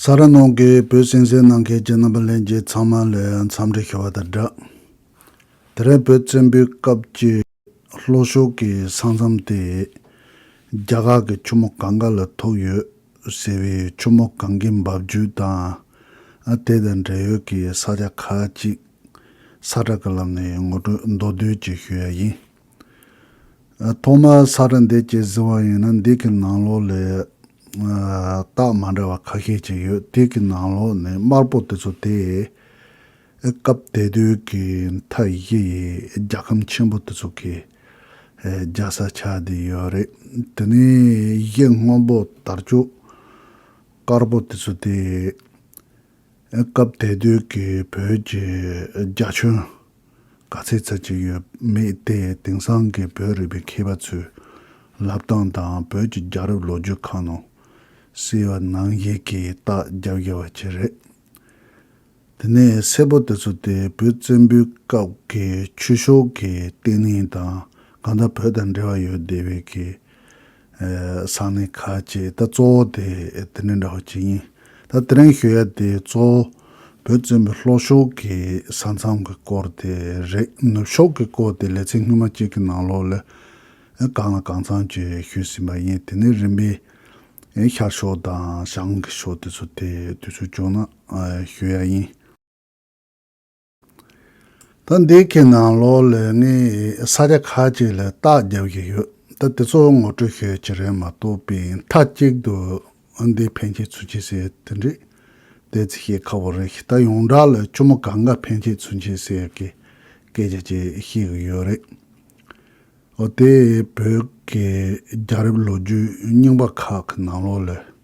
ས་ར་ནོར་གྱིས་བོད་སྲིང་བསྲེལ་གནང་མཁན་གྱི་རྣམ་པ་ལྷན་རྒྱས་ཚང་མ་ལས་འཚམས་འདྲི་ཞུ་བ་དང་སྦྲགས། དེ་རིང་བོད་བཙན་པོའི་སྐབས་ཀྱི་ལྷོ་ཕྱོགས་ཀྱི་ས་མཚམས་དེ་རྒྱ་གར་གྱི་ཆུ་མོ་གངྒཱ་ལ་ཐུག་ཡོད་ཟེར་བའི་ཆུ་མོ་གངྒཱའི་འབབ་རྒྱུད་དང་དེ་དང་འབྲེལ་ཡོད་ཀྱི་ས་ཆ་ཁག་ཅིག་ས་བཀྲ་ཀ་ལ་ངས་ངོ་སྤྲོད་མདོར་བསྡུས་ཀྱིས་ཞུ་ཡ་ཡིན། ཐོག་མར་ས་རཱ་འདེད་ཅེས་ཟེར་བ་ཡིན་ན་འདེད་ཀྱི་ནང་ལོགས་ལས་རྟགས་མ་འདྲ་བ་ཁ་ཤས་ཅིག་ཡོད་འདེད་ཀྱི་ནང་ལོགས་ནི་དམར་པོ་དེ་ཚོ་སྟེ། སྐབས་དེ་དུས་ཀྱི་མཐའ་བཞི་ཡི་རྒྱལ་ཁམས་ཆེན་པོ་དེ་ཚོ་གི་རྒྱལ་ས་ཆགས་བསྡད་ཡོད་རེད། དེ་ནས་གཞས་སྔོན་པོ་དར་ལྕོག་དཀར་པོ་དེ་ཚོ་སྟེ། སྐབས་དེ་དུས་ཀྱི་བོད་ཀྱི་རྒྱ་ཁྱོན། ག་ཚད་ཚད་ཅིག་ཡོད་མེད་དེ་དེང་སང་གི་བོད་རིག་པའི་མཁས་པ་ཚོའི་ལབ་སྟངས་དང་བོད་ཀྱི་རྒྱ་རབས་ལོ་རྒྱུས་ཁང་ནང་གསེས་བ་ནང་བཞིན་གྱི་རྟགས་རྒྱབ་རྒྱབ་བ་བྱེད་རེད། དེ་ནས་སེར་པོ་དེ་ཚོ་དེ་བོད་བཙན་པོའི་སྐབས་ཀྱི་ཆོས་ཕྱོགས་ཀྱི་བརྟེན་ལྷིང་དང་གང་ལྟར་བོད་དང་འབྲེལ་བ་ཡོད་བསྡད་པའི་གི་ཚང་ནི་ཁ་ཅིག་ད་གཙོ་བོ་དེ་དེ་ནི་འདྲ་བ་གཅིག་ཡིན་ད་དེ་རིང་ཤོད་ཡ་དེ་གཙོ་བོ་བོད་བཙན་པོའི་ལྷོ་ཕྱོགས་ཀྱི་ས་མཚམས་ཀྱི་སྐོར་དེ་རེད་ནུབ་ཕྱོགས་ཀྱི་སྐོར་དེ་ལེ་ཚན་སྔོན་མ་གཅིག་གི་ནང་ལོགས་ལས་གང་ལ་གང་ཚང་གཅིག་ཞུས་ཟིན་པ་ཡིན་དེ་ནི་རིམ་པས་ཤར་ཕྱོགས་དང་བྱང་གི་ཕྱོགས་དེ་ཚོ་དེ་དུས་ཚོད་བྱུང་ན་ཞུ་ཡ་ཡིན། ད་འདི་གའི་ནང་ལོག་ལོས་ངས་ས་ཆ་ཁག་ཅིག་ལ་བརྟག་རྒྱག་གི་ཡོད། ད་དེ་ཚོ་ངོ་སྤྲོད་ཤོད་ཀྱི་རེད་མ་གཏོགས་པའི་མཐའ་གཅིག་ཏུ་འདི་ཕན་ཆད་ཚུན་ཆད་ཟེར་དེ་འདྲས་དེ་ཚིག་ཤེས་ཁག་པོ་རེད་ད་ཡོངས་གྲགས་ལ་གཅུང་མོ་ག་འགའ་ཕན་ཆད་ཚུན་ཆད་ཟེར་གི་སྐད་ཆ་ཅིག་ཤེས་གི་ཡོད་རེད། འོ་དེ་བོད་ཀྱི་རྒྱ་རབས་ལོ་རྒྱུས་རྙིང་པ་ཁག་གི་ནང་ལོག་ལོས།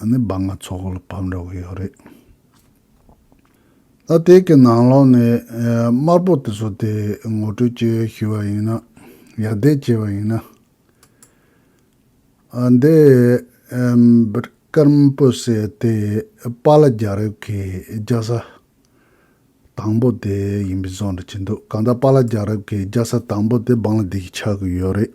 ཨ་ནི་སྦ་ང་ཚོགས་ལ་བབས་འདྲ་བོ་ཡོད་རེད། ད་དེ་གི་ནང་ལོགས་ནས་དམར་པོ་དེ་ཚོ་དེ་ངོ་སྤྲོད་ཅི་ཞུ་བ་ཡིན་ན་ཡག་དེ་བྱས་པ་ཡིན་ན། ཨ་འདི་ཀརྨ་པོ་ཟེར་དེ་པཱ་ལ་རྒྱ་རིབ་ཀྱི་རྒྱ་ས་དང་པོ་དེ་ཡིན་པའི་བཟོ་འདྲ་བྱེད་འདུག་གང་ལྟར་པཱ་ལ་རྒྱ་རིབ་ཀྱི་རྒྱ་ས་དང་པོ་དེ་བང་ལ་འདེད་ཀྱི་ཆགས་ཀྱི་ཡོད་རེད།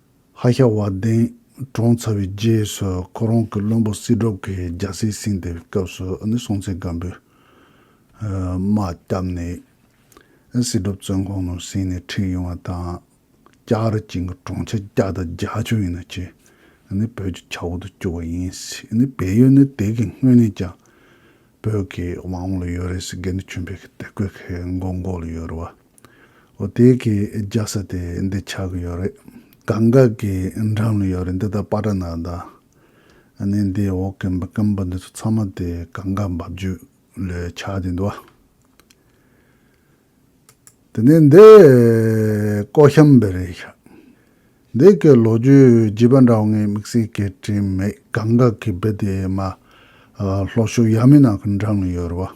ཧ་ཤ་བ་གདན་དྲོངས་ཚར་བའི་རྗེས་སུ་ཁོ་རང་གི་བློན་པོ་སྲིད་སྒྲོབ་ཀྱིས་རྒྱལ་སྲིད་བསྲིངས་ཏེ་སྐབས་སུ་སྲོང་བཙན་སྒམ་པོས་དམག་བསྐྱབས་ནས་སྲིད་སྒྲོབ་བཙོན་ཁང་ནང་བསྲིངས་ནས་ཁྲིད་ཡོང་བ་དང། སྐྱག་རི་ཅན་གྱི་གྲོང་ཁྱེར་སྐྱག་དང་རྒྱ་ཆུ་ཡིན་ནོ་ཅེས་བོད་ཀྱི་ཆག་འོག་ཏུ་བསྐྱུར་བ་ཡིན་སྲིད། བལ་ཡུལ་ནི་དེ་གའི་སྔོན་ནས་ཀྱང་བོད་ཀྱི་དབང་འོག་ལ་ཡོད་རེད་ཟེར་དགེ་འདུན་ཆོས་འཕེལ་གྱི་དད་གུས་ཀྱི་མགོ་མགོ་ལ་ཡོད་རེད་བ། ཨོ་དེ་གའི་རྒྱག་ས་དེ་འདི་ཆགས་ཀྱི་ཡོད་རེད། གངས་འགག་གི་འགྲམ་ལ་ཡོད་རེད་འདི་ད་པ་ཏྲ་ན་ད། ཨ་ནི་འདི་འོག་གི་འབུ་སྐམ་པོ་འདི་ཚོ་ཚང་མ་དེ་གངས་འགག་འབབ་རྒྱུད་ལོས་ཆགས་ཀྱི་འདུག་བ། དེ་ནས་འདི་ཀོ་ཤམ་བེ་རེད་ཤག། འདི་གའི་ལོ་རྒྱུས་བརྗེས་པ་འདྲ་བོ་ངས་དམིགས་བསལ་སྐད་དྲིས་མེད་གངས་འགག་གི་འབུ་དེ་མ། ལྷོ་ཕྱོགས་ཡ་མི་ནག་གི་འགྲམ་ལ་ཡོད་རེད་བ།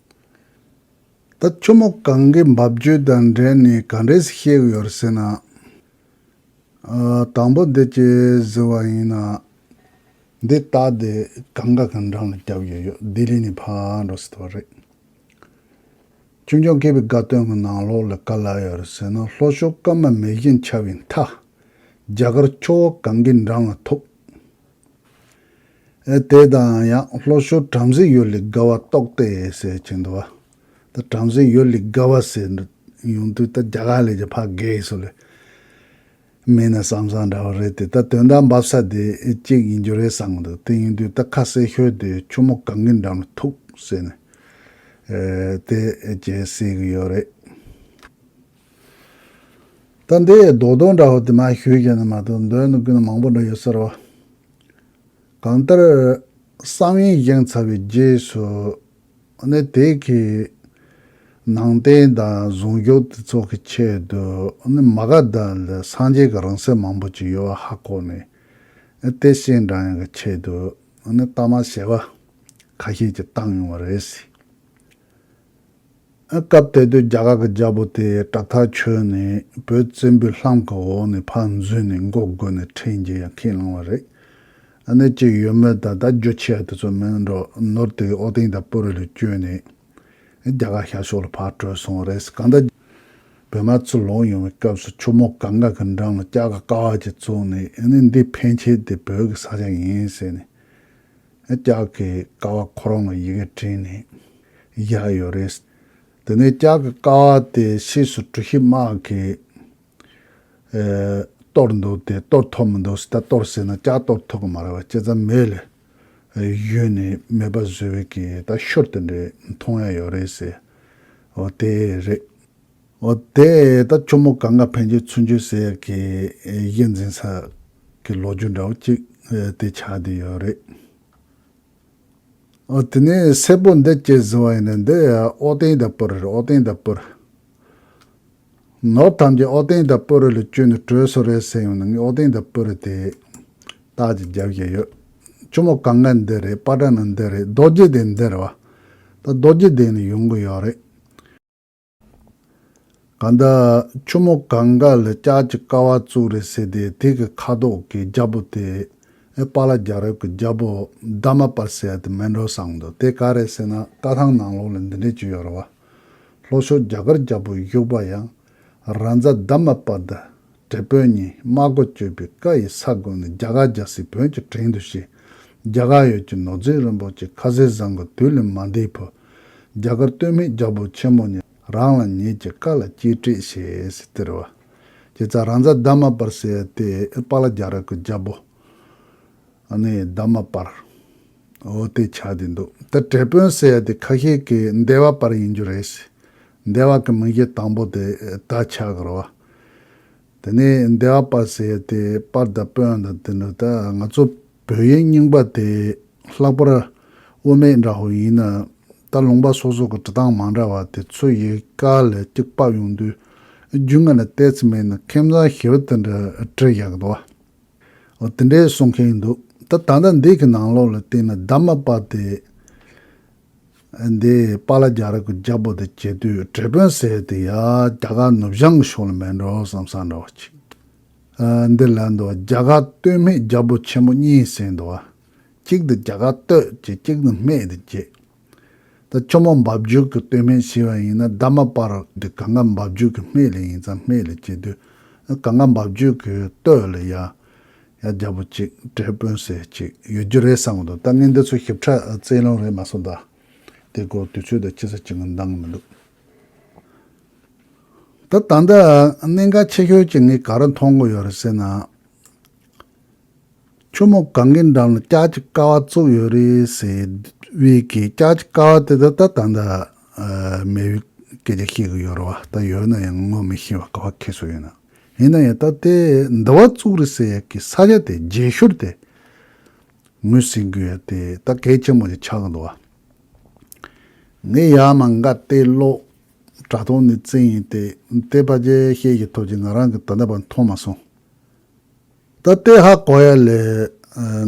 ད་ཁྱོད་མོ་གང་གི་འབབ་རྒྱུད་དང་འབྲེལ་ནས་ག་འདྲས་ཤེས་གི་ཡོད་ཟེར་ན། དང་པོ་འདི་ཅི་ཟེར་བ་ཡིན་ན། འདི་ལྟ་སྟེ་གང་ག་གི་འགྲམ་ལ་སྐྱབས་ཡོད་ཡོད་ལྡི་ལི་ནས་ཕར་འགྲོ་སྲིད་པ་རེད། ཆུང་ཆུང་སྐྱེས་པའི་དགའ་སྟོན་གྱི་ནང་ལོགས་ལ་ག་ལ་ཡོད་རེད་ཟེར་ན་ལྷོ་ཕྱོགས་སྐར་མ་མེ་བཞིན་འཆར་བའི་མཐའ། རྒྱ་གར་ཁྱོ་བོ་གང་གི་འགྲམ་ལ་ཐུག། དེ་དང་ཡང་ལྷོ་ཤོར་བྲམ་ཟེ་ཡོས་ལི་དགའ་བ་རྟོགས་ཏེ་ཟེར་བྱས་འདུག་བ། ད་བྲམ་ཟེ་ཡོས་ལི་དགའ་བ་ཟེར་འདུག་ཡོང་དུས་ད་རྒྱ་གར་ལས་ཀྱི་ཕ་རྒས་སུ་ལས། མིན་ན་བསམ་བསམ་འདྲ་བ་རེད་དེ་ད་དོན་དག་འབབ་ས་དེ་གཅིག་ཡིན་རྒྱུ་རེད་བསམ་འདུག་དེ་ཡིན་དུས་ད་ཁ་ཟས་ཤོས་དེ་ཆུ་མོ་གང་གི་འགྲམ་ལ་ཐུག་ཟེར་ནས་དེ་རྗེས་བསྲེས་གི་ཡོད་རེད། ད་འདི་ཡི་རྡོག་རྡོག་འདྲ་བོ་དེ་མ་ཞུས་ཀྱང་ནི་མ་གཏོགས་འདོད་ནི་ཀུན་མང་པོ་འདྲ་ཡོད་ཟེར་རོ། གང་ལྟར། བསམ་ཡུལ་བཞེངས་ཚར་བའི་རྗེས་སུ་ནི་དེ་གའི་ནང་བསྟན་དང་གཟུངས་རྒྱོབ་དེ་ཚོགས་ཀྱི་ཆེད་དུ་ནི་མ་ག་དྷ་ལ་སངས་རྒྱས་ཀྱི་རང་སྲས་མང་པོ་ཅིག་ཡོད་བ་ཧ་གོ་ནས་དེ་བཞིན་འདྲ་ཡང་གི་ཆེད་དུ་ནི་གཏའ་མ་ཞེས་པ་ཁ་ཤས་ཀྱིས་བཏང་ཡོང་བ་རེད། སྐབས་དེ་དུས་རྒྱ་གར་གྱི་རྒྱལ་པོ་དེས་སྐྲ་ཐག་ཆོད་ནས་བོད་བཙན་པོའི་ལྷམ་གྱི་འོག་ནས་ཕར་འཛུལ་ནས་མགོ་བསྒུར་ནས་འཕྲིན་གྱི་ཡང་ཁས་བླངས་བ་རེད། གནད་གཅིག་ཡོད་མོད་ད་ལྟ་རྒྱུ་ཆས་དེ་ཚོ་མིན་འགྲོ་ནོར་དེ་ཨོ་ཏིང་དང་པུ་རི་ལ་བསྐྱོན་ནས་རྒྱ་གར་ཤར་ཕྱོགས་ལ་ཕར་བྲོས་སོང་བ་རེད། གང་ལྟར། བོད་མ་ཚུར་ལོག་ཡོང་བའི་སྐབས་སུ་ཁྱོ་མོ་ག་འགའ་གི་འགྲམ་ལ་སྐྱག་ག་ཀ་བ་ཅིག་བཙུགས་ནས་འདི་ཕན་ཆད་དེ་བོད་ཀྱི་ས་ཆ་ཡིན་ཟེར་ནས། ལྕགས་ཀྱི་ཀ་བ་ཁོ་རང་ལ་ཡི་གེ་བྲིས་ནས་བཞག་ཡོད་རེད། དེ་ནས་ལྕགས་ཀྱི་ཀ་བ་དེ་ཕྱིས་སུ་གྲུ་བཞི་དམག་གིས་གཏོར་འདུག་དེ་གཏོར་ཐུབ་མི་འདུག་ད་གཏོར་ཟེར་ན་ལྕགས་གཏོར་ཐུབ་ཀྱི་མ་རེད་བ་ཁྱེད་ཚང་མེད་ལས་གཞོན་ནས་མེད་པ་བཟོས་བས་ཀྱིས་ད་ཤོར་དེ་འདྲས་མཐོང་ཡ་ཡོད་རེད་ཟེར་བ་དེ་རེད། འོ་དེ་ད་གཅུང་མོ་གང་ག་ཕན་ཆོད་ཚུན་ཆོད་ཟེར་ཡག་གི་གཞི་འཛིན་ས་གི་ལོ་རྒྱུས་འདྲ་བོ་གཅིག་དེ་ཆགས་བསྡད་ཡོད་རེད། འོ་དེ་ནས་སེར་པོ་འདི་ཅེས་ཟེར་བ་ཡིན་ནི་འདི་ཨོ་ཏེང་དང་པོ་རི་རེད་ཨོ་ཏེང་དང་པོ་རི། ནོར་ཐམས་ཅད་ཨོ་ཏེང་དང་པོ་རི་ལ་བཅོལ་ནས་གྲོས་སུ་རེད་ཟེར་ཡོང་ནི་ངས་ཨོ་ཏེང་དང་པོ་རི་དེ་རྟགས་ཅིག་རྒྱབ་བཞིན་ཡོད། གཅུང་མོ་གང་ག་འདི་རེད་པ་ཏྲ་ནི་འདི་རེད་རྡོ་རྗེ་དེ་འདི་རེད་བ། ད་རྡོ་རྗེ་དེ་ནི་ཡོང་གི་ཡོད་རེད། གང་ལྟར། ཁྱོ་མོ་གང་དགའ་ལ་སྐྱག་གི་ཀ་བ་བཙུགས་རེད་ཟེར་ཏེ་དེ་གི་ཁ་དོག་གི་རྒྱ་བོ་དེ། པཱ་ལ་རྒྱ་རབས་ཀྱི་རྒྱ་བོ་རྡ་མ་པར་སེལ་ཏི་མན་རོ་སང་འདུག་དེ་ག་རེད་ཟེར་ན་ཀ་ཐང་ནང་ལོགས་ལ་འདི་འདྲས་ཅིག་ཡོད་རེད་བ། ལྷོ་ཕྱོགས་རྒྱ་གར་རྒྱ་བོ་བཞུགས་པ་ཡང། རང་རྫ་རྡ་མ་པར་དུ་བྲེ་བོད་གཉིས་དམག་སྒོ་གཅོད་པའི་བཀའ་ཡི་ས་དགོན་ནས་རྒྱ་གར་རྒྱ་སྲིད་བོན་གྱི་དྲིན་དུ་ཞེས། རྒྱ་གར་ཡུལ་གྱི་ནོར་རྫས་རིན་པོ་ཆེ་ཁ་ཟས་བཟང་གི་དུས་ལས་མ་འདས་བུ། རྒྱ་གར་སྟོད་སྨད་རྒྱལ་པོ་ཆེན་མོ་ནི་རང་ལ་ཉེས་ཀྱི་བཀའ་ལ་གཅེས་སྤྲས་ཞེས་སྟེར་བ། ཀྱེ་ཙཱ་རང་བཟའ་དཱ་མ་པར་བསད་དེ་པཱ་ལ་རྒྱ་ར་ཀུ་རྒྱལ་པོ་ནི་དཱ་མ་པར་འོ་དེ་བྱ་དེ་འདུག་དེ་དྲེད་དཔོན་བསད་དེ་ཁ་ཤས་ཀྱིས་འདས་བ་པར་ཡིན་རྒྱུ་རེད་ཟེར། འདས་བ་ཀྱི་མིང་གཞི་དང་པོ་དེ་ད་ཆ་གི་རོ་བ། དེ་ནས་འདས་བ་པར་བསད་དེ་པར་དཱ་དཔོན་དང་དེ་འདྲ་ད་ང་ཚོ་བོད་ཡིག་རྙིང་པ་དེ་ལྷག་པར་དབུ་མེད་འདྲ་བོ་ཡིན། ད་ལུང་པ་སོ་སོ་གི་བྲི་སྟངས་མ་འདྲ་བ་དེ་ཚོས་ཡིག་ག་ལས་གཅིག་པགས་ཡོང་དུས། རྒྱུས་མངའ་ལ་བལྟས་ཚེ་མིན་ན་མཁས་མཛངས་ཞི་བ་དེ་འདྲ་བྲི་ཡག་གི་འདུག་བ། དེ་འདྲས་གསུང་མཁན་འདུག་ད་ད་ལྟ་འདི་གི་ནང་ལོགས་ལ་བལྟས་ན་ད་མ་པ་དེ་འདས་པ་ལ་རྒྱ་ར་གི་རྒྱ་པོ་དེ་བྱེད་དུས་བྲེ་དཔོན་ཟེར་དེ་ཡ་རྒྱ་གར་ནུབ་བྱང་གི་ཕྱོགས་ལ་མེད་འགྲོ་བསམ་ས་འདྲ་བ་གཅིག། འདི་ལ་འདུག་བརྒྱ་དགའ་སྟོད་སྨད་རྒྱལ་པོ་ཆེན་པོ་གཉིས་ཟེར་འདུག་ཨ། གཅིག་ཏུ་བརྒྱ་དགའ་སྟོད་ཀྱི་གཅིག་ནི་སྨད་དུ་གྱེས། ད་ཁྱོད་མོ་འབབ་རྒྱུད་ཀྱི་སྟོད་སྨད་ཤི་བ་ཡིན་ན་ཟླ་མ་པར་དེ་ག་འགའ་འབབ་རྒྱུད་ཀྱི་སྨད་ལས་ཡིན་ཙང་སྨད་ལས་གྱེས་དུས་ཨ་ག་འགའ་འབབ་རྒྱུད་ཀྱི་སྟོད་ལས་ཡ། ཡ་རྒྱལ་པོ་གཅིག་དྲེལ་དཔོན་ཟེར་གཅིག་ཡོད་རྒྱུ་རེད་བསམ་གི་འདུག་ད་ངས་འདི་ཚོ་ཞིབ་ཕྲ་བཙལ་ལོང་རེད་མ་སོང་ད། དེ་སྐོར་དུས་ཚོད་དང་སྤྱི་ས་གཅིག་གི་འདང་མི་འདུག། ད་ད་ལྟ་གནད་འགག་ཆེ་ཤོས་ཀྱི་ངས་ག་རེ་མཐོང་དགོས་ཡོད་རེད་ཟེར་ན། ཁྱོད་མོ་གངྒཱའི་འགྲམ་ལ་སྐྱག་གི་ཀ་བ་བཙུགས་ཡོད་རེད་ཟེར་བས་ཀྱི་སྐྱག་གི་ཀ་བ་དེ་དག་ད་ད་ལྟ་མེད་ཡོད་སྐད་ཆ་བཤད་གི་ཡོད་རེད་བ་ད་ཡོད་ན་ཡང་ངོ་མི་ཤེས་བ་ག་བ་ཁེ་སོ་ཡིན་ན་ཡིན་ན་ཡང་ད་དེ་འདི་བ་བཙུགས་རེད་ཟེར་ཡས་ཀྱི་ས་ཆ་དེ་རྗེས་ཤོར་དེ་ངོས་ཟིན་གི་ཡོད་དེ་ད་གལ་ཆེན་མོ་ཞིག་ཆགས་གི་འདུག་བ། ངས་ཡར་མ་འགའ་བལྟས་ཀློག་དྲ་ཐོག་ནས་བཙལ་ཡིན་ཏེ་བལྟས་པ་རྒྱས་བཤད་ཀྱི་ཐོག་ཅིག་ང་རང་གིས་ད་ལྟ་བར་མཐོང་མ་སོང། ད་ལྟའི་ཧ་གོ་ཡ་ལས་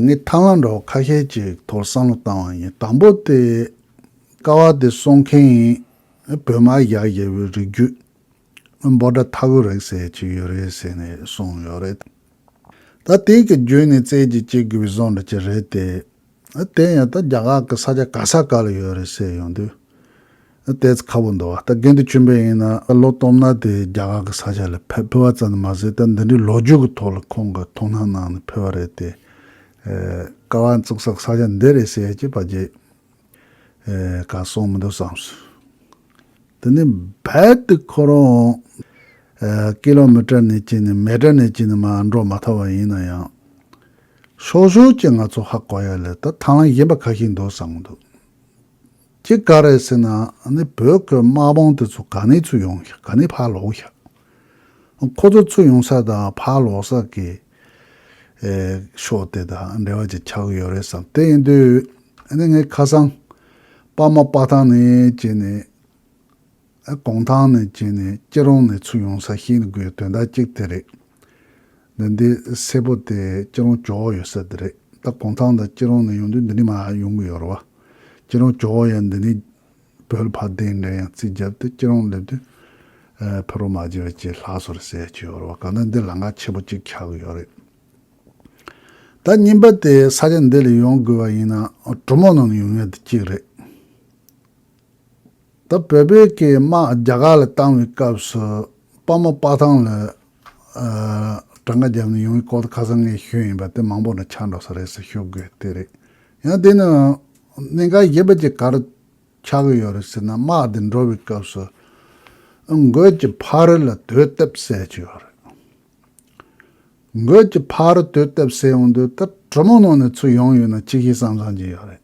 ངས་ཐང་ལ་འདྲ་བོ་ཁ་ཤས་ཅིག་ཐོག་བསམ་བློ་བཏང་བ་ཡིན་དང་པོ་དེ་ཀ་བ་དེ་གསོ་མཁན་ཡིན་བོད་དམག་ཡག་བཞེས་པའི་རིགས་རྒྱུད་འབོ་དགྲ་ཐག་གུ་རེག་ཟེར་ཅིག་ཡོད་རེད་ཟེར་ནས་གསུངས་ཡོད་རེད། ད་དེང་གི་རྒྱུད་ནས་བཙལ་གྱིས་བྱེད་དགོས་པའི་བཟོ་འདྲ་ཅིག་རེད་དེ། དེ་ཡང་ད་རྒྱ་གར་གི་ས་ཆ་ག་ས་ག་ལ་ཡོད་རེད་ཟེར་ཡོང་དུས། ལྟས་ཚེ་ཁ་བོ་འདུག་ད་དགེ་འདུན་ཆེན་པོ་ཡིན་ན་ལོ་སྟོང་མནའ་དེ་རྒྱ་གར་གི་ས་ཆ་ལ་ཕེབས་བ་ཙམ་མ་ཟད་ད་འདི་འདྲའི་ལོ་རྒྱུས་ཀྱི་ཐོག་ལ་ཁོང་གི་མཐོང་སྣང་གནང་ནས་ཕེབས་བ་རེད་དེ། སྐལ་བ་བཙུགས་སར་ས་ཆ་འདི་རེད་ཟེར་གྱི་བ་རྗེས་ག་སོང་མི་འདུག་བསམ་སོང། དེ་ནས་བལ་དུ་ཁོ་རང་ཀི་ལོ་མི་ཀྲ་ནས་ཅི་ནས་མེ་ཀྲ་ནས་ཅི་ནས་མ་འགྲོ་མ་ཐག་བ་ཡིན་ན་ཡང། ཞོག་ཞོག་ཀྱེ་ང་ཚོ་ཧ་གོ་ཡ་ལེ་ད་ཐང་ལ་ཡིན་པ་ག་ཞིག་འདུག་བསམ་གི་འདུག་ཀྱེ་ག་རེ་ཟེར་ན་ནི་བོད་སྐད་དམག་དཔོང་དེ་ཚོ་ག་ནས་ཚུར་ཡོང་ཞག་ག་ནས་ཕར་ལོག་ཞག་ཁོ་ཚོ་ཚུར་ཡོང་ས་དང་ཕར་ལོག་ས་ཀྱི་ཕྱོགས་དེ་དང་འབྲེལ་བ་ཅིག་ཆགས་ཀྱི་ཡོད་རེད་བསམ་དེ་ཡིན་དུས་ནི་ངས་ཁ་སང་པདྨ་དཔའ་ཐང་ནས་ཀྱེ་ནི། གུང་ཐང་ནས་བྱས་ནས་སྐྱིད་རོང་ནས་ཚུར་ཡོང་ས་ཤིག་ནི་དགོས་དོན་དག་ཅིག་དེ་རེད། འདི་འདི་སེར་པོ་དེ་སྐྱིད་རོང་ཇོ་བོ་ཡོད་ས་དེ་རེད་ད་གུང་ཐང་དང་སྐྱིད་རོང་ནས་ཡོང་དུས་འདི་ནི་མ་ཡོང་གི་ཡོད་རེད་བ། སྐྱིད་རོང་ཇོ་བོ་ཡ་འདི་ནི་བོད་ཕ་བདེ་འགའ་ཡང་རྩིས་བརྒྱབ་སྟེ་སྐྱིད་རོང་སླེབས་དུས་ཕེ་རོ་མ་བརྗེ་བའི་ཆེད་ལྷ་སོ་རེ་ཟེར་གྱི་ཡོད་རེད་བ་གང་ལྟར་འདིར་ལ་འགག་ཆེ་པོ་གཅིག་ཆགས་གི་ཡོད་རེད། ད་རྙིང་པ་དེ་ས་ཆ་འདི་ལ་ཡོང་དགོས་བ་ཡིན་ན་གྲོ་མོ་ནང་ནས་ཡོང་ཡ་འདི་གཅིག་རེད། ད་བོད་པའི་སྐད་དམག་རྒྱ་གར་ལ་བཏང་བའི་སྐབས་སུ་དཔའ་མོ་དཔའ་ཐང་ལ་དྲ་ང་རྒྱབ་ནས་ཡོང་བའི་སྐོར་དུ་ཁ་སང་ངས་ཤོད་ཡིན་པ་དེ་མང་པོ་ན་ཆ་འགྲོ་ས་རེད་ཟེར་ཤོད་དགོས་དེ་རེད། ཡང་དེ་ནི་གནད་འགག་ཞེས་པ་ཅིག་གར་ཆགས་ཀྱི་ཡོད་རེད་ཟེར་ན་དམག་དེ་འགྲོ་བའི་སྐབས་སུ་འགོས་ཀྱི་ཕ་རི་ལ་དོད་བཏབ་བསད་ཀྱི་ཡོད་རེད། འགོས་ཀྱི་ཕ་རི་དོད་བཏབ་བསད་ཡོང་དུས་ད་གྲོ་མོ་ནང་ནས་ཚུར་ཡོང་ཡོད་ན་ཅི་ཞིག་བསམ་བསམ་གྱི་ཡོད་རེད།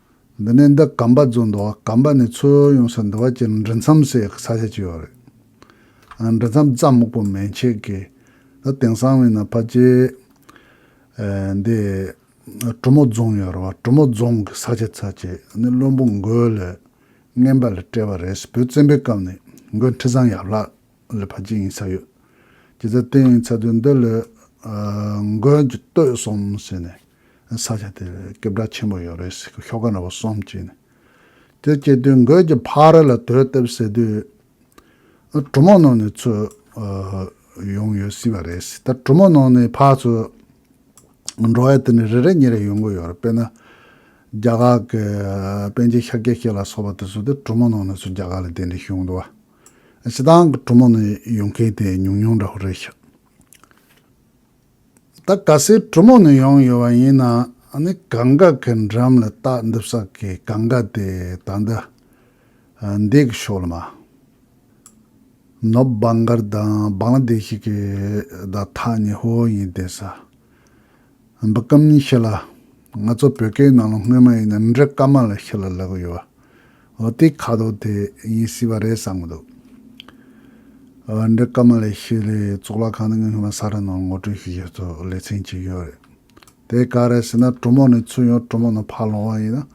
འདི་ནས་འདི་གམ་པ་རྫུན་འདུག་ཨ་གམ་པ་ནི་ཚོད་ཡོངས་སུ་འདུ་བ་ཅི་འབྲི་མཚམས་སའི་ས་ཆ་ཅི་ཡོད་རེད། ཨ་འབྲི་མཚམས་རྩྭ་སྨུག་པོ་མན་ཆད་ཀྱི་ཨ་དེང་སང་བས་ན་ཕ་ཅེ། ཨ་འདི་ཨ་གྲོ་མོ་རྫོང་ཡོད་རེད་བ་གྲོ་མོ་རྫོང་གི་ས་ཆ་ཚ་ཆེ་ནི་བློན་པོ་མགོའི་ལས་རྔན་པ་ལ་སྤྲད་བ་རེད་བོད་བཙན་པོའི་སྐབས་ནས་མགོའི་འཁྲི་བཟང་ཡབ་ལགས། ལ་ཕ་གཅིག་ཡིན་ས་ཡོད། ཇི་ལྟར་བསྟན་ཡིན་ཚ་དུས་འདི་ལོའི་མགོན་གྱི་བསྟོད་གསུམ་ཟེར་ནས་ས་ཆ་དེར་སྐད་གྲགས་ཆེན་པོ་ཡོད་རེད་ཟེར་གི་ཤོག་ཁ་འདྲ་པོ་གསུམ་བྲིས་ནས་དེ་སྐྱེལ་དུས་མགོན་གྱི་ཕ་ར་ལ་དོས་བསྟབས་ཟེར་དུས། གྲུ་མོ་ནང་ནས་ཚུར་ཡོང་ཡོད་སྲིད་པ་རེད་ཟེར་ད་གྲུ་མོ་ནང་ནས་ཕ་ཚོ་འགྲོ་བའི་དུས་ནས་རེ་རེ་གཉིས་རེ་ཡོང་གི་ཡོད་རེད་དཔེར་ན་རྒྱ་གར་གྱི་པན་ཆེན་ཤཱཀྱ་ཁྱེད་ལ་སོགས་པ་དེ་ཚོ་དེ་གྲུ་མོ་ནང་ནས་ཚུར་རྒྱ་གར་ལ་དེ་འདྲའི་བྱུང་འདུག་བ། ཞེ་སྡང་གི་གྲུ་མོ་ནས་ཡོང་མཁན་དེ་ཉུང་ཉུང་འདྲ་བོ་རེད་ཤག། ད་ག་སའི་གྲུ་མོ་ནས་ཡོང་ཡོད་པ་ཡིན་ན་ནི་གངས་དཀར་གྱི་འགྲམ་ལ་རྟ་འདུག་ས་ཀྱི་གངས་དཀར་དེ་ད་ལྟ་འདས་ཀྱི་ཤོག་ལ་མ་ནོབ་སྦང་དཀར་དང་སྦང་ལ་འདས་ཤིག་གི་ད་ཐག་ནི་ཧོ་ཡིན་བསྡད་ས། འབུ་སྐམ་གཉིས་ཤི་ལ། ང་ཚོ་བོད་སྐད་ནང་ལ་སྔོན་མ་ཡིན་ན་འབྲི་སྐམ་མ་ལ་ཤི་ལ་ལབ་གི་ཡོད། འོ་དེའི་ཁ་དོག་དེ་ཡིན་སྲིད་པ་རེད་བསམ་གི་འདུག། འབྲི་སྐམ་མ་ལ་ཤི་ལའི་གཙུག་ལག་ཁང་ནི་སྔོན་མ་ས་རཱ་ནང་ངོ་སྤྲོད་ཞུ་རྒྱུ་ཚོ་ལས་ཚན་གཅིག་ཡོད་རེད། དེ་ག་རེད་ཟེར་ན་གྲོ་མོ་ནས་ཚུར་ཡོང་གྲོ་མོ་ནས་ཕར་ལོང་བ་ཡིན་ན་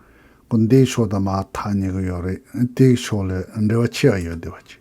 ཀུན་དའི་ཕྱོགས་དང་མ་མཐའ་ཉེ་གི་ཡོད་རེད་དེའི་ཕྱོགས་ལས་འབྲེལ་བ་ཆེ་བ་ཡོད་དེ་བ་གཅིག།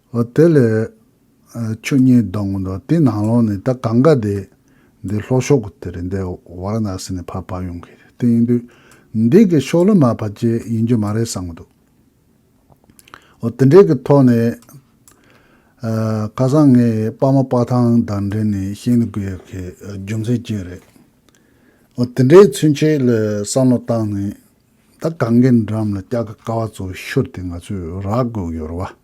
འོ་དེ་ལས། ཆོས་ཉིད་གདོད་མ་འདུག་དེའི་ནང་ལོགས་ནས་ད་གང་གཱ་དེ་འདི་ལྷོ་ཕྱོགས་ཀྱི་དེ་རེད་འདི་ཝར་ན་སི་ནས་ཕར་བབས་ཡོང་གི་རེད་དེ་ཡིན་དུས། འདི་གི་ཕྱོགས་ལ་མ་ཕར་བཅད་ཡིན་རྒྱུ་མ་རེད་བསམ་གྱི་འདུག་འོ་དེ་འདྲའི་གི་ཐོག་ནས། ཁ་སང་ངས་དཔའ་མོ་དཔའ་ཐང་དང་འབྲེལ་ནས་ཤེས་ནུས་དགོས་ཡག་གི་རྒྱུ་མཚན་གཅིག་རེད། འོ་དེ་འདྲའི་ཚུན་ཆད་ལ་བསམ་བློ་བཏང་ནས། ད་གང་གཱའི་འགྲམ་ལ་སྐྱག་གི་ཀ་བ་ཚོ་ཤོར་ཏེ་ང་ཚོས་རག་དགོས་ཀྱི་ཡོད་རེད་བ།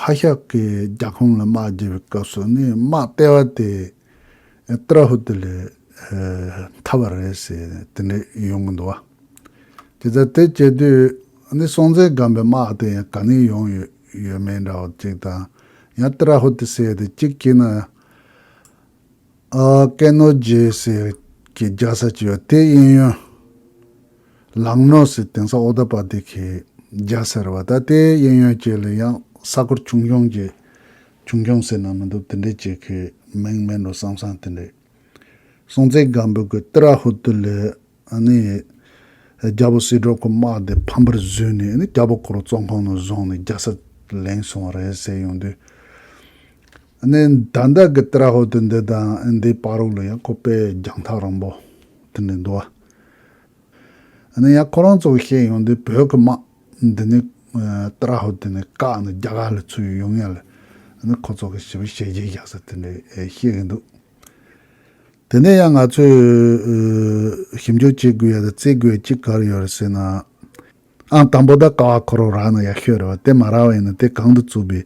ཧྭ་ཤག་གིས་རྒྱ་ཁོངས་ལ་དམག་བརྒྱབ་པའི་སྐབས་སུ་ནི་དམག་ལྟེ་བ་དེ་ཏྲ་ཧུ་ཏི་ལས་མཐའ་བར་རེད་ཟེར་ནས་དེ་འདྲ་ཡོང་གི་འདུག་བ། དེ་ལྟར་དེ་བྱེད་དུས་ནི་སྲོང་བཙན་སྒམ་པོའི་དམག་དེ་ཡང་ག་ནས་ཡོང་ཡོད་ཡོད་མེད་འདྲ་བ་ཅིག་དང་ཡང་ཏྲ་ཧུ་ཏི་བསད་དེ་གཅིག་སྐྱེས་ན། ཀན་ནོ་རྗེ་ཟེར་གྱི་རྒྱ་བཟའ་གཅིག་ཡོད་དེའི་གཡས་གཡོན། ལང་ནོ་ཟེར་དེང་སང་ཨོ་ད་པ་དེ་གའི་རྒྱ་ཟེར་བ་ད་ལྟའི་གཡས་གཡོན་བཅས་ལ་ཡང་ས་སྐོར་ཆུང་ཆུང་གྱི། ཆུང་ཆུང་ཟེར་ན་མི་འདུག་དེ་འདྲའི་བཅས་ཁའི་མིང་མེད་འགྲོ་བསམ་བསམ་དེ་འདྲའི། སྲོང་བཙན་སྒམ་པོའི་སྐུ་སྟི་ར་ཧུ་ཏུ་ལའི་ནས། རྒྱལ་པོ་སྲིད་གྲོགས་ཁོ་དམག་དེ་ཕམ་པར་བཟོས་ནས་རྒྱལ་པོ་ཁོ་རུ་བཙོན་ཁང་ནང་བཟུང་ནས་རྒྱལ་སར་ལེན་སོང་བ་རེད་ཟེར་ཡོང་དུས། ནས། ད་ལྟ་གི་ཏྲ་ཧོ་ཏི་འདི་དང་འདིའི་པཱ་རུག་ལ་ཡང་ཁོ་པས་རྒྱང་ཐག་རིང་པོ་དེ་ནས་འདུག་ཨ། ནས་ཡང་ཁོ་རང་ཚོ་བཤད་ཡོང་དུས་བོད་ཀྱི་དམག་འདི་ནི་ཏྲ་ཧོ་ཏི་ནས་བཀག་ནས་རྒྱ་གར་ལ་ཚུད་ཡོང་ངེས་ལ། ཁོ་ཚོ་གི་ཞི་བའི་བྱས་རྗེས་བཞག་ས་དེ་འདྲ་བཤད་གི་འདུག། དེ་ནས་ཡང་ང་ཚོས་ཞིབ་འཇུག་བྱེད་དགོས་ཡ་ད་བརྩི་དགོས་ཅི་གར་ཡོད་རེད་ཟེར་ན། ཨང་དང་པོ་ད་ཀ་བ་ཁོ་རོག་རག་ན་ཡག་ཤོས་རེད་བ་དེ་མ་རག་བ་ཡིན་ན་དེ་གང་དུ་བཙུགས་པའི་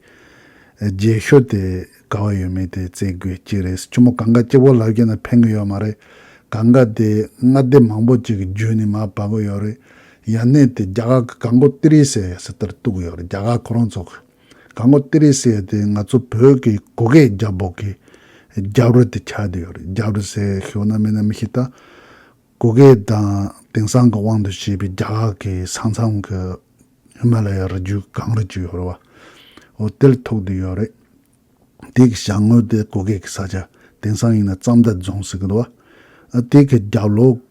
རྗེས་ཤོས་དེ་ག་བ་ཡོད་མེད་དེ་བརྩི་དགོས་གཅིག་རེད་ཆུ་མོ་གང་ག་གཅིག་བོར་ལག་ཁྱེར་ན་ཕན་གི་ཡོད་མ་རེད་གང་ག་དེ་སྔ་སྡེ་མང་པོ་གཅིག་གི་རྒྱུད་ནས་མ་བབས་གི་ཡོད་རེད་ཡ་གནས་དེ་རྒྱ་གར་གི་གང་གོ་ཏི་རི་ཟེར་ཡ་ཟེར་དེར་གཏུགས་གི་ཡོད་རེད་རྒྱ་གར་ཁོ་རང་ཚོ་གི། ག་ངོ་ཏི་རི་སེ་དེ་ང་ཚོ་བོད་ཀྱི་གུ་གེ་རྒྱ་འབོག་གི་རྒྱབ་རི་དེ་ཆགས་བསྡད་ཡོད་རེད་རྒྱབ་རི་ཟེར་ཞོར་ན་མིན་ན་མི་ཤེས་ད། གུ་གེ་དང་དེང་སང་གི་དབང་དུ་བྱས་པའི་རྒྱ་གར་གྱི་ས་མཚམས་ཀྱི་ཧི་མ་ལ་ཡའི་རི་རྒྱུད་གངས་རི་བཅུ་ཡོད་རེད་བ། འོ་དེར་ཐུག་བསྡད་ཡོད་རེད། དེ་གི་བྱང་ངོས་དེ་གུ་གེ་གི་ས་ཆ་དེང་སང་ཡིན་ན་རྩམ་མདའ་རྫོང་ཟེར་གི་འདུག་བ། དེ་གི་རྒྱབ་ལོགས།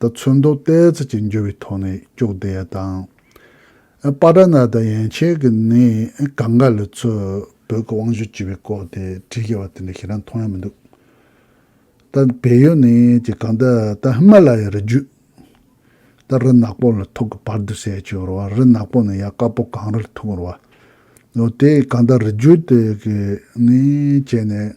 ད་ཚོད་མདོ་སྟོད་རྩེ་གཅིག་འགྱུར་བའི་ཐོག་ནས་སྐྱོགས་བདེ་ཡ་དང། པ་ཏྲ་ནཱ་ད་ཡན་ཆད་ཀྱི་ནི་གངས་དཀར་ལི་ཚོས་བོད་ཀྱི་དབང་ཤུགས་བཅིལ་བའི་སྐོར་དེ་བྲིས་ཡོད་པ་དེ་འདྲ་ཁྱེད་རང་མཐོང་ཡ་མི་འདུག་ད་བལ་ཡུལ་ནས་ཀྱི་གངས་ཏི་ད་ཧི་མ་ལ་ཡའི་རི་བརྒྱུད་ད་རི་ནག་པོ་ལ་ཐུག་གི་བར་དུ་ཟད་ཀྱི་རུ་བ་རི་ནག་པོ་ནས་ཡ་དཀར་པོ་གངས་རིར་ཐུག་རུ་བ་ནོ་དེ་གངས་ཏི་རི་བརྒྱུད་དེ་གི་ནི་བྱས་ནས་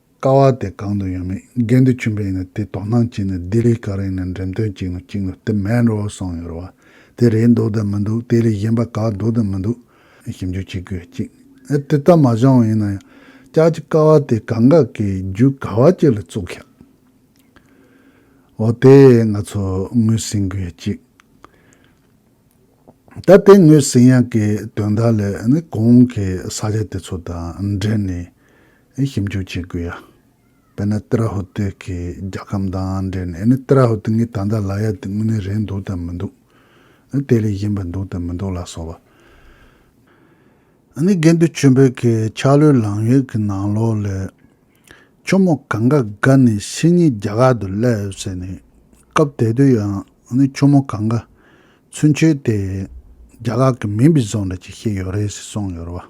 དཀའ་བ་དེ་གང་དུ་ཡང་མེད་རྒན་དུ་ཆུན་པོ་ཡིན་ན་དེ་དོ་སྣང་བགྱིས་ནས་ལྡི་ལི་ག་རེ་ཡིན་ན་འགྲེམས་སྟོན་གཅིག་ནོ་གཅིག་ནོ་དེ་མེད་འགྲོ་སོང་ཡོད་རེད་བ་དེ་རེད་འདུག་དེ་མི་འདུག་དེ་ལས་གཞན་པ་ག་འདུག་དེ་མི་འདུག་ཞིབ་འཇུག་བྱེད་དགོས་གཅིག་ཨེ་དེ་ལྟར་མ་བྱུང་བ་ཡིན་ན་ཡང་ཅག་གི་དཀའ་བ་དེ་ག་འགའ་གི་རྒྱུ་ག་བ་གཅིག་ལ་བཙུགས་ཤག་འོ་དེ་ང་ཚོ་ངོས་ཟིན་དགོས་གཅིག་ད་དེ་ངོས་ཟིན་ཡག་གི་དོན་དག་ལས་ནི་གོང་གི་ས་ཆ་དེ་ཚོ་དང་འབྲེལ་ནས། ཨེ་ཞིབ་འཇུག་བྱེད་དགོས་ཡ། དཔེར་ན་ཏི་ར་ཧུ་ཏི་གི་རྒྱལ་ཁམས་དང་འབྲེལ་ནས་ཨེ་ནི་ཏི་ར་ཧུ་ཏི་ངའི་ད་ལྟ་ལ་ཡ་དེ་དངོས་གནས་རེད་འདུག་དམ་མི་འདུག་ཨེ་དེ་ལས་གཞན་པ་འདུག་དམ་མི་འདུག་ལ་སོགས་པ། ཨེ་ནི་དགེ་འདུན་ཆོས་འཕེལ་གྱི་ཆག་ལོའི་ལང་ཡོད་ཀྱི་ནང་ལོགས་ལས། ཁྱོ་མོ་གང་ག་ག་ནི་ཕྱི་ཉིན་རྒྱ་གར་དུ་སླེབས་ཡོད་ཟེར་ནས། སྐབས་དེ་དུས་ཡང་ཨེ་ནི་ཁྱོ་མོ་གང་ག་ཚུན་ཆོད་དེ། རྒྱ་གར་གྱི་མིང་བི་ཟོ་འདྲ་གཅིག་ཤེས་ཡོད་རེད་ཟེར་གསུངས་ཡོད་རེད་བ།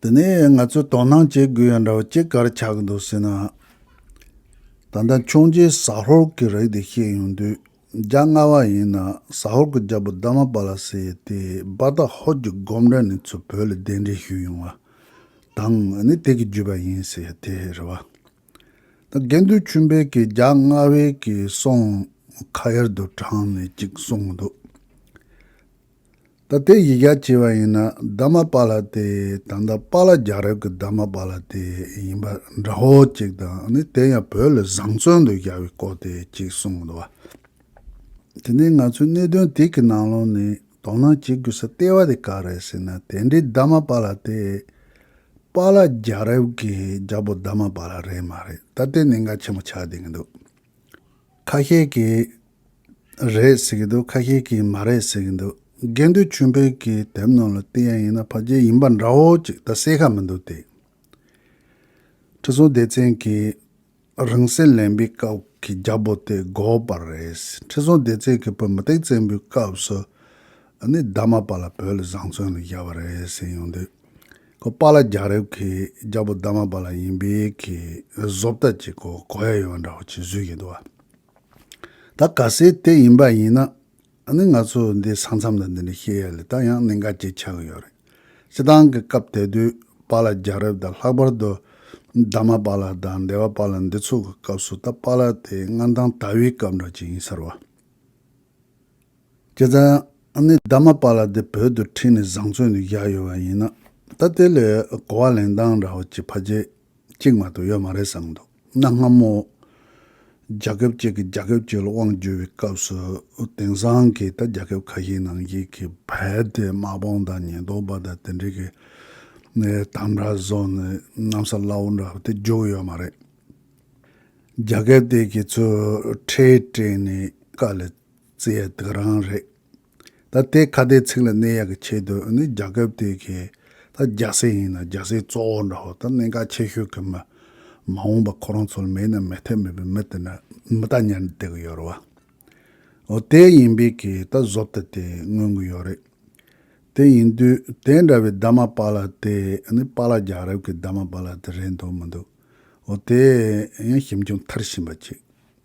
འདི་ནས་ང་ཚོས་དོ་སྣང་བྱེད་དགོས་ཡ་འདྲ་བ་ཅི་དགར་ཆགས་ཀྱི་འདུག་ཟེར་ན། ད་ལྟ་མཆོང་རྗེས་ཟ་ཧོར་གྱི་རིགས་དེ་ཤེས་ཡོང་དུས་རྒྱ་སྔ་བ་ཡིན་ན་ཟ་ཧོར་གྱི་རྒྱལ་པོ་དཱ་མ་པ་ལ་སི་ཡི་དེ་སྦ་ད་ཧོར་གྱི་སྒོམ་གྲྭ་ནས་ཚུར་བོད་ལ་གདན་འདྲེན་ཞུས་ཡོང་བ་དང་ནི་དེ་གི་བརྒྱུད་པ་ཡིན་ཟེར་ཡ་དེ་རེད་བ། ད་དགེ་འདུན་ཆོས་འཕེལ་གྱིས་རྒྱ་སྔ་བའི་གི་སོང་ཁ་ཡར་དུ་དྲངས་ནས་ཅིག་གསུངས་འདུག། ད་དེ་ཡི་རྒྱ་བྱེད་པ་ཡིན་ན་རྡ་མ་པཱ་ལ་ཏེ་ད་ལྟ་པཱ་ལ་རྒྱ་རབས་ཀྱི་རྡ་མ་པཱ་ལ་ཏེ་ཡིན་པ་འདྲ་བོ་ཅིག་དང་ནི་དེ་ཡང་བོད་ལ་བཟང་བཙོན་དུ་བཞག་པའི་སྐོར་དེ་ཅིག་གསུངས་འདུག་བ། དེ་ནས་ང་ཚོས་གནད་དོན་དེ་གི་ནང་ལོག་ནས་དོ་སྣང་བྱེད་དགོས་ས་ལྟེ་བ་དེ་ག་རེད་ཟེར་ན་དེ་འདྲའི་རྡ་མ་པཱ་ལ་ཏེ་པཱ་ལ་རྒྱ་རབས་ཀྱི་རྒྱལ་པོ་རྡ་མ་པཱ་ལ་རེད་མ་རེད་ད་དེ་ནི་འགའ་ཆེན་པོ་ཆགས་བསྡད་ཀྱི་འདུག་ཁ་ཤས་ཀྱིས། རེད་ཟེར་གྱི་འདུག་ཁ་ཤས་ཀྱིས་མ་རེད་ཟེར་གྱི་འདུག་དགེ་འདུན་ཆོས་འཕེལ་གྱི་དེབ་ནང་ལ་བལྟས་ཡ་ཡིན་ན་ཕ་རྒྱལ་ཡིན་པ་འདྲ་བོ་ཅིག་ད་གསལ་ཁ་མི་འདུག་སྟེ། ཁྲི་སྲོང་ལྡེ་བཙན་གྱིས་རང་བསྲེགས་ལེན་པའི་སྐབས་ཀྱི་རྒྱ་བོ་དེ་དགོས་པ་རེད། ཁྲི་སྲོང་ལྡེ་བཙན་གྱི་བུ་མུ་སྟེགས་བཙན་པོའི་སྐབས་སུ་ནི་རྡ་མ་པ་ལ་བོད་ལ་བཟང་བཙོན་ལ་བཞག་པ་རེད་ཟེར་ཡོང་དུས། ཁོ་པཱ་ལགས་རྒྱ་རབས་ཀྱི་རྒྱ་བོ་རྡ་མ་པ་ལགས་ཡིན་པའི་གི་བཟོ་ལྟ་ཅིག་གོ་གོ་ཡ་ཡོད་པ་འདྲ་བོ་ཅིག་བཟོས་ཀྱི་འདུག་བ། ད་ག་སའི་དེ་ཡིན་པ་ཡིན་ན། ནི་ང་ཚོ་འདི་ས་མཚམས་ལ་འདི་འདྲ་བཤད་ཡ་ལས་ད་ཡང་གནད་འགག་ཅིག་ཆགས་ཀྱི་ཡོད་རེད། སྤྱི་དང་གི་སྐབས་དེ་དུས་པཱ་ལ་རྒྱལ་རབས་དང་ལྷག་པར་དུ་དཱ་མ་པཱ་ལ་དང་དེ་བ་པཱ་ལ་འདི་ཚོ་གི་སྐབས་སུ་ད་པཱ་ལ་དེ་མངའ་ཐང་དཱ་བིའི་སྐབས་འདྲ་ཅིག་ཡིན་ཟེར་བ། ཁྱེད་རང་ནི་རྡ་མ་པ་ལ་དེ་བོད་དུ་ཁྲིད་ནས་བཟང་བཙོན་དུ་བཞག་ཡོད་པ་ཡིན་ན་ད་དེ་ལས་གོ་བ་ལེན་སྟངས་ར་བ་ཅི་ཕ་རྗེས་གཅིག་མ་གཏོགས་ཡོད་མ་རེད་བསམ་འདུག་གནའ་སྔ་མོ་རྒྱ་ཁབ་ཅིག་གི་རྒྱ་ཁབ་ཅིག་ལ་དབང་བསྒྱུར་བའི་སྐབས་སུ་དེང་སང་གི་ད་རྒྱ་ཁབ་ཁ་ཤས་ནང་བཞིན་གི་བལ་དེ་དམག་དཔུང་དང་ཉེན་རྟོག་པ་དང་དེ་འདྲས་ཀྱི་དམ་དྲག་བཟོ་ནས་གནམ་ས་བླ་འོག་འདྲ་བ་དེ་རྒྱུགས་ཡོད་མ་རེད། རྒྱ་ཁབ་དེ་གི་ཚོས་ཁྲལ་སྤྲད་ནས་དཀའ་ལས། རྩེ་ཡག་དག་རང་རེད། ད་ལྟའི་ཁ་བརྡའི་ཚིག་ལ་གནས་ཡག་གི་ཆེད་དུ་ནི་རྒྱ་ཁབ་དེ་གས་ད་རྒྱ་སེ་ཡིན་ན་རྒྱ་སེ་གཙོ་བོ་འདྲ་བོ་ད་གནད་འགག་ཆེ་ཤོས་གི་མི་མ་འོངས་པ་ཁོ་རང་ཚོ་ལ་མེད་ན་མེད་ཐབས་མེད་པའི་མི་དེ་ན་མི་ད་ཉར་འདེགས་གི་ཡོད་རེད་བ། འོ་དེ་ཡིན་པས་གས་ད་བཟོ་ད་དེ་མངོན་གི་ཡོད་རེད། དེ་ཡིན་དུས་དེ་འདྲ་བའི་རྡ་མ་པ་ལ་དེ་ནི་པ་ལ་རྒྱ་རབ་གི་རྡ་མ་པ་ལ་དེ་རེད་འདུག་མི་འདུག་འོ་དེ་ཡང་ཞིབ་འཇུག་མཐར་ཕྱིན་པ་ཅིག